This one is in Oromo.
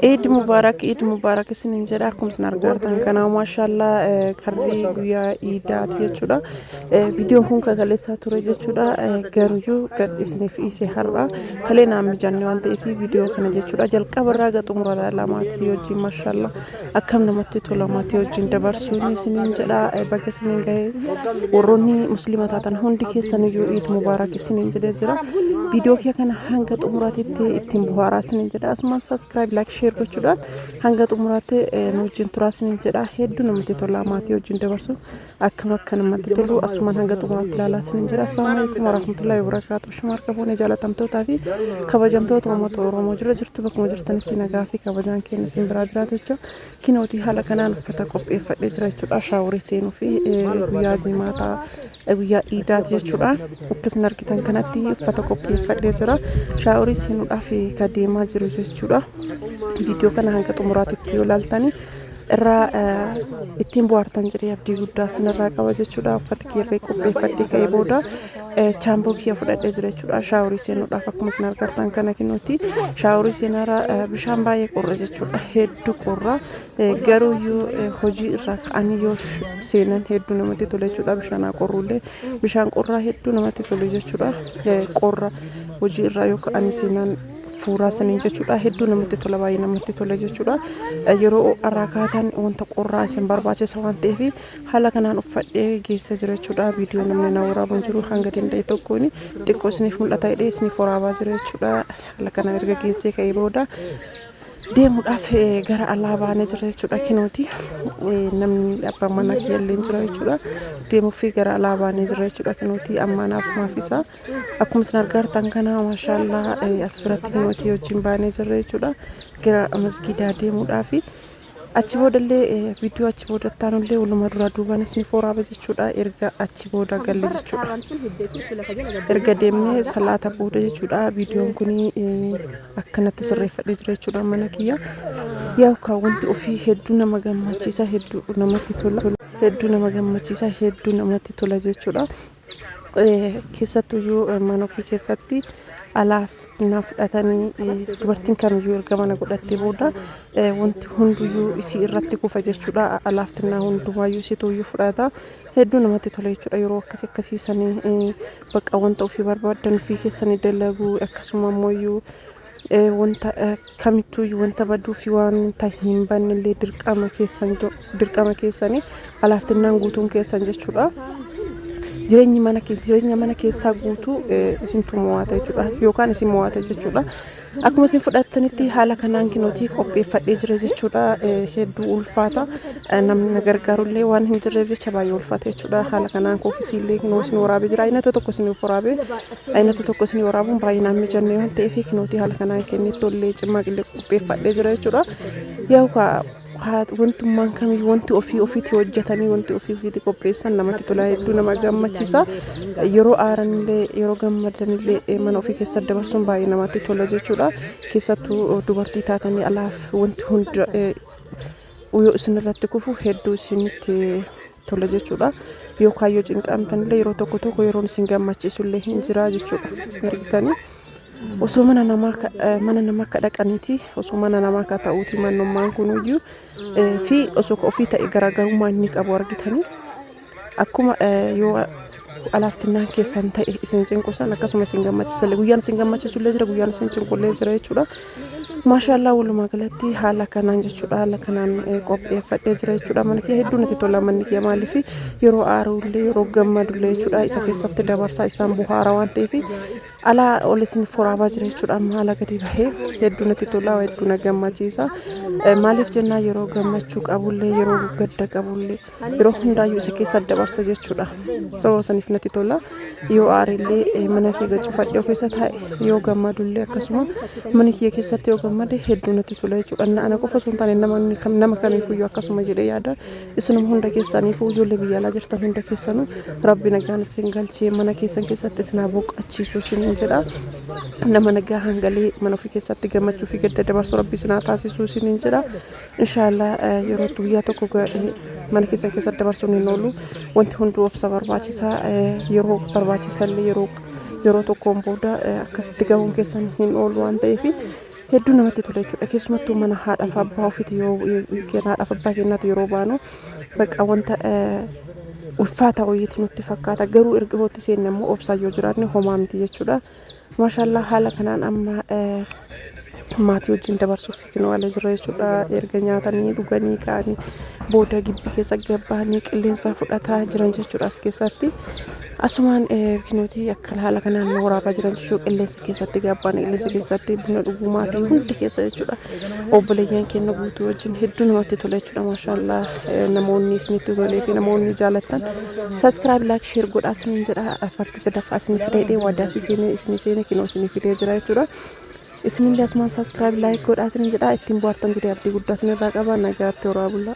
Eid Mubarak Eid Mubarak isinin jedha akkuma isin argaa jirtan kana maashaallah eh, karri guyyaa iidaati jechuudha Eh, viidiyoon kun kakaleessaa ture jechuudha Eh, garuyyuu gad isiniif dhiise har'a kalee naan mijanne waan ta'eef viidiyoo kana jechuudha jalqaba irraa gaxumura lamaati wajjin maashaallah Akkam namatti tola maatii wajjin dabarsuun isiniin jedha baga isiniin gahee warroonni musliima taatan hundi keessaniyyuu iid mubaarak isiniin jedhee jira viidiyoo kee kana hanga xumuraatitti ittiin buhaaraa isiniin jedha asumaan saskiraayib laayik sheer gochuudhaan hanga xumuraatti nu wajjin turaa isiniin jedha hedduu namatti tola maatii wajjin dabarsuun Akkam akka namatti tolu asumaan hanga xumuraatti ilaalaa isiniin jira. Assalaamu alaikum warahmatullahi wabarakaatu. Shuma harka fuune jaalatamtootaa fi kabajamtoota uummata Oromoo jira jirtu bakkuma jirtanitti nagaa fi kabajaan keenya isin biraa jiraatu jecha kinootii haala kanaan uffata qopheeffadhee jira jechuudha. Shaaworii seenuu fi guyyaa jimaataa guyyaa iidaati jechuudha. Akkasuma argitan kanatti uffata qopheeffadhee jira. Shaaworii seenuudhaaf ka deemaa jiru jechuudha. Viidiyoo kana hanga xumuraatti yoo ilaaltanii irraa ittiin bu'aartan jedhee abdii guddaa sinirraa qaba jechuudha uffata kiirree qopheeffadhee ka'ee booda chaamboo kiyya fudhadhee jira jechuudha shaaworii seenuudhaaf akkuma isin argartan kana kinuuti shaaworii seenaara bishaan baay'ee qorra jechuudha hedduu qorra garuu yoo hojii irraa ka'anii yoo seenan hedduu namatti tole jechuudha bishaanaa qorruullee bishaan qorraa hedduu namatti tole jechuudha qorra hojii irraa yoo ka'anii seenan fuuraa saniin jechuudha hedduu namatti tola baay'ee namatti tola jechuudha yeroo irraa kaatan wanta qorraa isin barbaachisa waan ta'eef haala kanaan uffadhee geessa jira jechuudha viidiyoo namni na waraabuun jiru hanga danda'e tokkoon xiqqoo isiniif mul'ata hidhee isiniif waraabaa jira jechuudha haala kanaan erga geessee ka'ee booda deemuudhaaf gara alaa baanee jira jechuudha kinooti namni abbaan manaa kiyya illee jira jechuudha deemuufi gara alaa baanee jira jechuudha kinooti ammaa naaf maaf isaa Akkuma isin argaa jirtan kana maashaallah as biratti nuti wajjin baanee jirra jechuudha. Gara masgiidaa deemuudhaaf achi boodallee viidiyoo achi booda taanullee walumaa duraa duubaan isin fooraaba jechuudha. Erga achi booda galle jechuudha. Erga deemnee salaata booda jechuudha. Viidiyoon kun akkanatti sirreeffadhee jira jechuudha mana kiyya. Yaa'u kaa wanti ofii hedduu nama gammachiisa hedduu namatti tola. hedduu nama gammachiisa hedduu namatti tola jechuudha Keessattuyyuu mana ofii keessatti alaaf na fudhatanii dubartiin kamiyyuu erga mana godhattee booda wanti hunduyyuu isii irratti kufa jechuudha. Alaaf xinnaa hundumaayyuu isituyyuu fudhata. Hedduu namatti tola jechuudha yeroo akkas akkasiisanii bakka wanta ofii barbaaddan ofii keessanii dalaguu akkasuma ammoo wanta kamittuu wanta baduu fi wanta hin banne illee dirqama keessan dirqama keessanii alaaftinnaan guutuun keessan jechuudha. Jireenyi mana jireenya mana keessaa guutuu isintu mo'ata jechuudha yookaan isin mo'ata jechuudha. Akkuma isin fudhattanitti haala kanaan kinootii qopheeffadhee jira jechuudha hedduu ulfaata namni na gargaaru illee waan hin jirreef jecha baay'ee ulfaata jechuudha haala kanaan kookisiillee kinoo isin waraabee jira inni tokko isin waraabee Aynata tokko isinii waraabuun baay'ee naan mijanne waan ta'eef kinootii haala kanaan kennee tollee cimmaa qillee qopheeffadhee jira jechuudha. Yaa'u kaa haa wantummaan kamii wanti ofii ofiitti hojjetanii wanti ofii ofiitti qopheessan namatti tola hedduu nama gammachiisa. Yeroo aaranillee yeroo gammadanillee mana ofii keessa dabarsuun baay'ee namatti tola jechuudha. Keessattuu dubartii taatanii alaaf wanti hunda yoo isinirratti kufu hedduu isinitti tola jechuudha. Yoo kaayyoo cinqaamtanillee yeroo tokko tokko yeroon isin gammachiisullee hin jira jechuudha. Ergitanii osoo mana namaa ka- eh, mana namaa akka dhaqaniiti osoo mana namaa akka ta'uuti mannummaan kunuyyuu eh, fi osoo ka ofii ta'e garaagarummaa inni qabu argitanii akkuma eh, yoo alaaftinnaan keessan ta'e isin cinqusan akkasuma isin gammachiisalle guyyaan isin gammachiisullee jira guyyaan isin cinqullee jira jechuudha. Maashaallaa walumaa galatti haala kanaan jechuudha haala kanaan eh, qopheeffadhee jira jechuudha mana kiyya hedduu natti tola manni kiyya maaliif yeroo aaruullee yeroo gammadullee jechuudha isa keessatti dabarsaa isaan buhaara waan ta'eef alaa ol isin furaabaa jira jechuudha amma haala gadi bahee hedduu natti tola hedduu na gammachiisa Eh, maaliif jennaa yeroo gammachuu qabullee yeroo gadda qabullee yeroo hundaayyuu isa keessa dabarsa jechuudha sababa saniif natti tola yoo aarillee mana kiyya cufadhe of keessa taa'e yoo gammadullee akkasuma mana kiyya keessatti yoo gammade hedduu natti tola jechuudha na ana qofa osoo hin taane namni kam nama kamiifuyyuu akkasuma jedhee yaada isinuma hunda keessaniifuu ijoollee biyya alaa jirtan hunda keessanuu rabbi nagaan isin galchee mana keessan keessatti isin haa boqachiisu isin jedha nama nagaa hangalee mana ofii keessatti gammachuu fi gadda dabarsu rabbi isin haa taasisu isin jedha Inshallah yeroo guyyaa tokko mana keessan keessa dabarsuun hin oolu wanti hunduu obsa barbaachisa yeroo barbaachisallee yeroo yeroo tokkoon booda akka itti gahuun keessan hin oolu waan ta'eef hedduu namatti tola jechuudha keessumattuu mana haadhaaf abbaa ofiiti yoo haadhaaf abbaa keenyaati yeroo baanu bakka wanta ulfaataa wayiiti nutti fakkaata garuu erga hootti seenne immoo obsaa yoo jiraanne homaa miti jechuudha. Maashaallah haala kanaan amma maatii wajjin dabarsuuf fiignu ala jira jechuudha. Erga nyaatanii dhuganii ka'anii booda gibbii keessa gabbahanii qilleensa fudhataa jiran jechuudha as keessatti. Asumaan biqilooti akkan haala kanaan waraabaa jiran jechuudha qilleensa keessatti gabbaan qilleensa keessatti buna dhuguu maatii hundi keessa jechuudha. Obboleeyyan keenya guutuu wajjin hedduu namatti tola jechuudha maashaallah namoonni isinitti tolee fi namoonni jaalattan saskiraayib laayik sheer godhaa isiniin jedha. sadaffaa isinii fidee dhee waadaas isinii isinii seenee kinoo isinii fidee jira jechuudha. Isinillee asumaan saskiraayib laayik godhaa isinin jedhaa ittiin bohaartan jedhee abdii guddaa isinirraa qaba nagaatti horaa bulaa.